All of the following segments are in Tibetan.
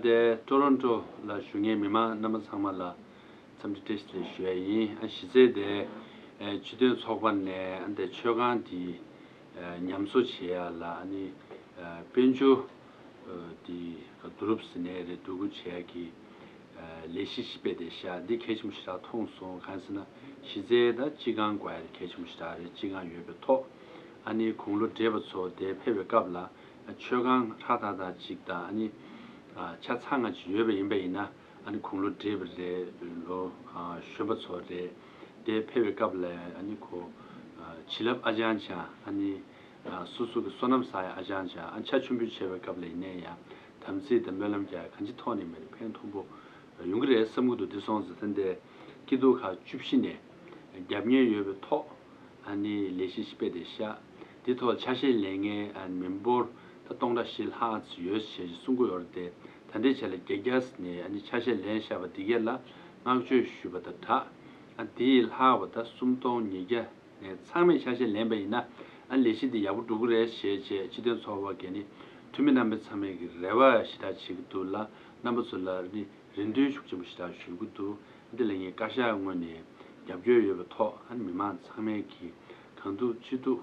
དེ Toronto ལ་བཞུགས་མཁན་མི་མང་རྣམ་པ་ཚང་མ་ལ་འཚམས་འདྲི་བཀྲིས་བདེ་ལེགས་ཞུ་བ་ཡིན། གཞི་རྩའི་དེ་སྤྱི་དོན་ཚོགས་པ་ནས་དེ་མཆོད་ཁང་དེ་ཉམས་བཟོ་བྱེད་ཡ་ལ་དཔལ་འབྱོར་དེ་ག་དུ་རུབ་ཟིན་ནའི་རེད་སྡུག་གུ་བྱེད་ཡ་གི། ལས་གཞི་ཞིག་སྤེལ་ཏེ་ཞྭ་འདི་གལ་ཆེན་པོ་ཞིག་དྲག་ཐོངས་སོང་གང་ཟེར་ན་གཞི་རྩའི་ད་སྤྱི་ཁང་དགོས་ཡ་རེད་གལ་ཆེན་པོ་ཞིག་དྲག་རེད་སྤྱི་ཁང་ཡོད་པའི་ཐོག་ཨ་ནི་དགུང་ལོ་བགྲེས་པ་ཚོ་དེ་ཕེབས་པའི་སྐབས་ལ་མཆོད་ཁང་ཧྲག་ཐག་ཐག་ཅིག་དང་ཨ་ནི་ཆ་ཚང་ང་ཅིག་ཡོད་པ་ཡིན་པ་ཡིན་ན་ཨ་ནི་དགུང་ལོ་བགྲེས་པ་རེད་ལོ་གཞོན་པ་ཚོ་རེད་དེ་ཕེབས་པའི་སྐབས་ལ་ཨ་ནི་ཁོ་བྱིན་རླབས་ཨ་ཅང་ཅང་ཨ་ནི་སོ་སོ་གི་བསོད་ནམས་བསགས་ཡ་ཨ་ཅང་ཅང་ཨ་ནི་ཆ་ཆུང་ཕུད་ཆེ་བའི་སྐབས་ལ་ཡིན་ནའི་ཡ། དམ་ཚིག་དང་སྨོན་ལམ་རྒྱ་ཡིས་གང་ཅི་ཐོག་ནས་མེད་ན་ཕན་མཐོང་པོ་ཡོང་གི་རེད་བསམ་གི་འདུག་བདེ་སྲོང་ཟི་ཐན་ཏའི་སྐྱིད་སྡུག་ཁག་བཅུ་བཞི་ནས་རྒྱབ་གཉེར་ཡོད་པའི་ཐོག་ནས་ལས་གཞི་ཞིག་སྤེལ་ཏེ་ཤག་དེའི་ཐོག་ཆ་ཤས་ལས་ངན་མི་འབོར་ད་སྟོང་ཕྲག་བཞི་ལྷག་ཙི་ཡོད་ཞེས་གསུང་གི་ཡོད་རེད་དེ་ད་འདྲའི་ཆ་ལས་རྒྱ་རྒྱ་ནས་ཆ་ཤས་ལེན་ཤག་པ་འདི་གས་ལ་བསྔགས་བརྗོད་ཞུས་པ་ད་དྲག་དེ་ཡིས་ལྷག་པ་ད་སུམ་སྟོང་ཉིས་བརྒྱ། ཚང་མས་ཆ་ཤས་ལེན་པ་ཡིན་ན་ཨ་ལས་གཞི་འདི་ཡག་པོ་འགྲོ་གི་རེད་ཞེས་བྱས་སྤྱི་དོན་ཚོར་བ་གས་ནི་འཐུས་མི་རྣམ་པས་ཚང་མས་ཀྱི་རེ་བ་ཞི་དྲག་བྱེད་ཀྱི་འདུག་ལ་རྣམ་པ་ཚོ་ལ་ནི་རེ་འདུན་ཤུགས་ཆེན་པོ་ཞི་དྲག་ཞུ་གི་འདུག་འདི་ལ་ངས་བཀའ་ཤག་ངོས་ནས་རྒྱབ་སྐྱོར་ཡོད་པའི་ཐོག་ཨ་ནི་མི་མང་ཚང་མས་ཀྱི་གང་ཐུབ་ཅི་ཐུབ་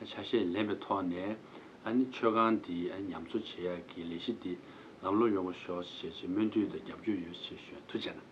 ཆ་ཤས་ལེན་པའི་ཐོག་ནས་ཨ་ནི་ཆོས་ཁང་འདི་ཉམས་གསོ་བྱེད་ཡག་གི་ལས་གཞི་འདི་ལམ་ལྷོང་ཡོང་གི་ཤོག་ཞེས་བྱས་ཆེས་སྨོན་འདུན་དང་རྒྱབ་སྐྱོར་ཡོད་ཞེས་ཞུ་ཡང་ཐུགས་ཆེ་གནང།